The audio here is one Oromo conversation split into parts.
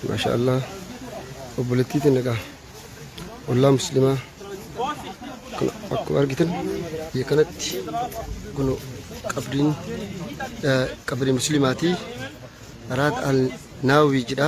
maashaa allah obboleettii tana egaa ollaa muslimaa kan akkuma argitan biyya kanatti kun qabriin eh, qabrii muslimaatii raad al naawii jedha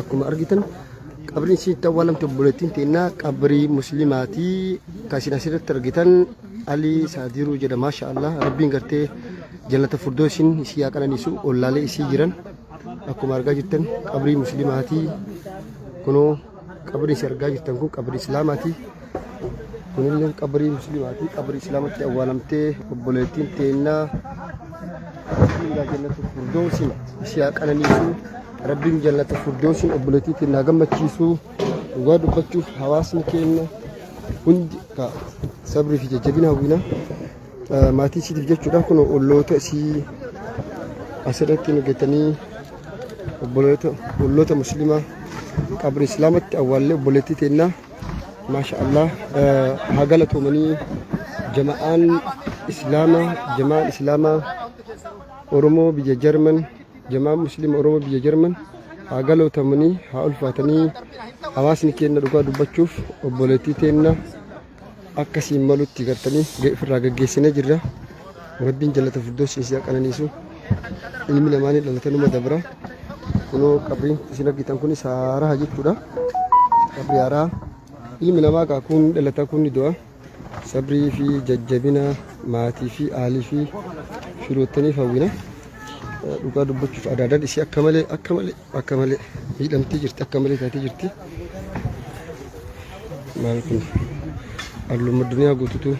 Akkuma argitan qabriin isiitti awwaalamte obboleettiin teennaa qabrii muslimaatii kan isin asirratti argitan Alii Saadiruu jedha maasha Allah rabbiin gartee jannata furdoosiin isii haa qananiisu ollaalee isii jiran akkuma argaa jirtan qabrii muslimaatii kunoo Qabri isin argaa jirtan kun qabri Islaamaati. Kunillee qabri Musliimaati. Qabri Islaamatti awwaalamtee obboleettiin teennaa Rabbiin gaa jannatu furdoosin ishee haa qananiisu. Rabbiin jannatu furdoosin obboleettii teennaa gammachiisu. Dhugaa dubbachuuf hawaasni keenya hundi ka sabrii fi jajjabina hawwina. Maatii isiitiif jechuudha kun olloota isii asirratti nu gettanii obboloota olloota musliimaa qabri islaamatti awwaallee obboleettii teennaa maasha allah haa galatoomanii jama'aan islaamaa jama'aan islaamaa oromoo biyya jarman jama'aan musliima oromoo biyya jarman haa galootamanii haa ulfaatanii hawaasni keenya dhugaa dubbachuuf obboleettii teenna akka siin malutti gartanii ofirraa gaggeessine jirra rabbiin jallata firdoos isin qananiisu ilmi namaa ni dhalata numa dabra kunoo qabriin isin argitan kun saaraa jechuudha qabri haaraa ilmi namaa kaa kun dhalata kun ni du'a sabrii fi jajjabina maatii fi aalii fi firoottaniif hawwina dhugaa dubbachuuf adaadan isii akka malee akka malee Akka malee miidhamtee jirti akka malee taatee jirti. Maal kun halluun addunyaa guututu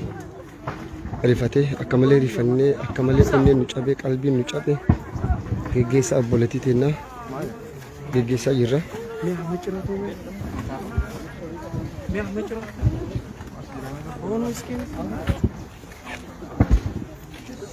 rifatee akka malee rifannee akka malee onneen nu cabee qalbiin nu cabee geggeessaa obboleettii teennaa geggeessaa jirra. Miyaa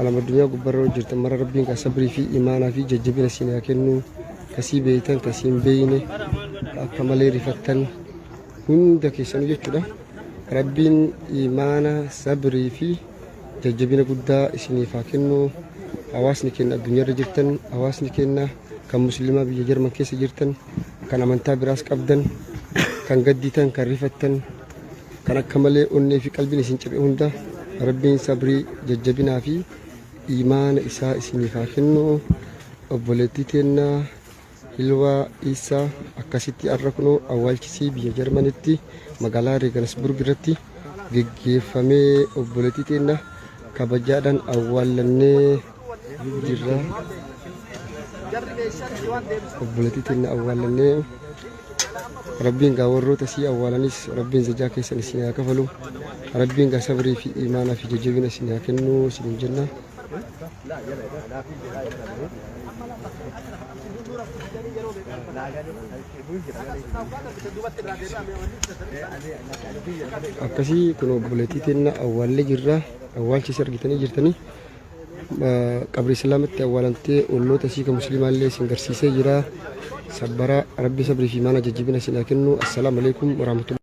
Alam addunyaa gubbarra hojjetan mara rabbiin kan sabrii fi imaanaa fi jajjabina siin haa kennu kasii beeytan kasii hin beeyne akka malee rifattan hunda keessanuu jechuudha rabbiin imaana sabrii fi jajjabina guddaa isiniif haa kennu hawaasni keenya addunyaarra jirtan hawaasni keenya kan musliimaa biyya jarman keessa jirtan kan amantaa biraas qabdan kan gadditan kan rifattan kan akka malee onnee fi qalbiin isin cabe hunda rabbiin sabrii jajjabinaa fi imaana isaa isiniif haa kennu obboleettii teennaa hilwaa isaa akkasitti arra kunoo awwaalchisii biyya jarmanitti magaalaa reegansburg irratti geggeeffamee obboleettii teenna kabajaadhaan awwaallannee jirra obboleettii teenna awwaalannee rabbiin gaa warroota sii awwaalanis rabbiin zajaa keessan isin haa kafalu rabbiin gaa sabrii fi imaanaa fi jajjabina isin haa kennu isin jenna akkasii kun obboleettii teenna awwaallee jirra awwaalchis argitanii jirtanii qabrii islaamatti awwaalamtee olloota isii kan musliimaa illee isin garsiisee jira sabbaraa rabbi sabrii fi maana jajjibina isin haa kennu assalaamu alaikum warahmatullahi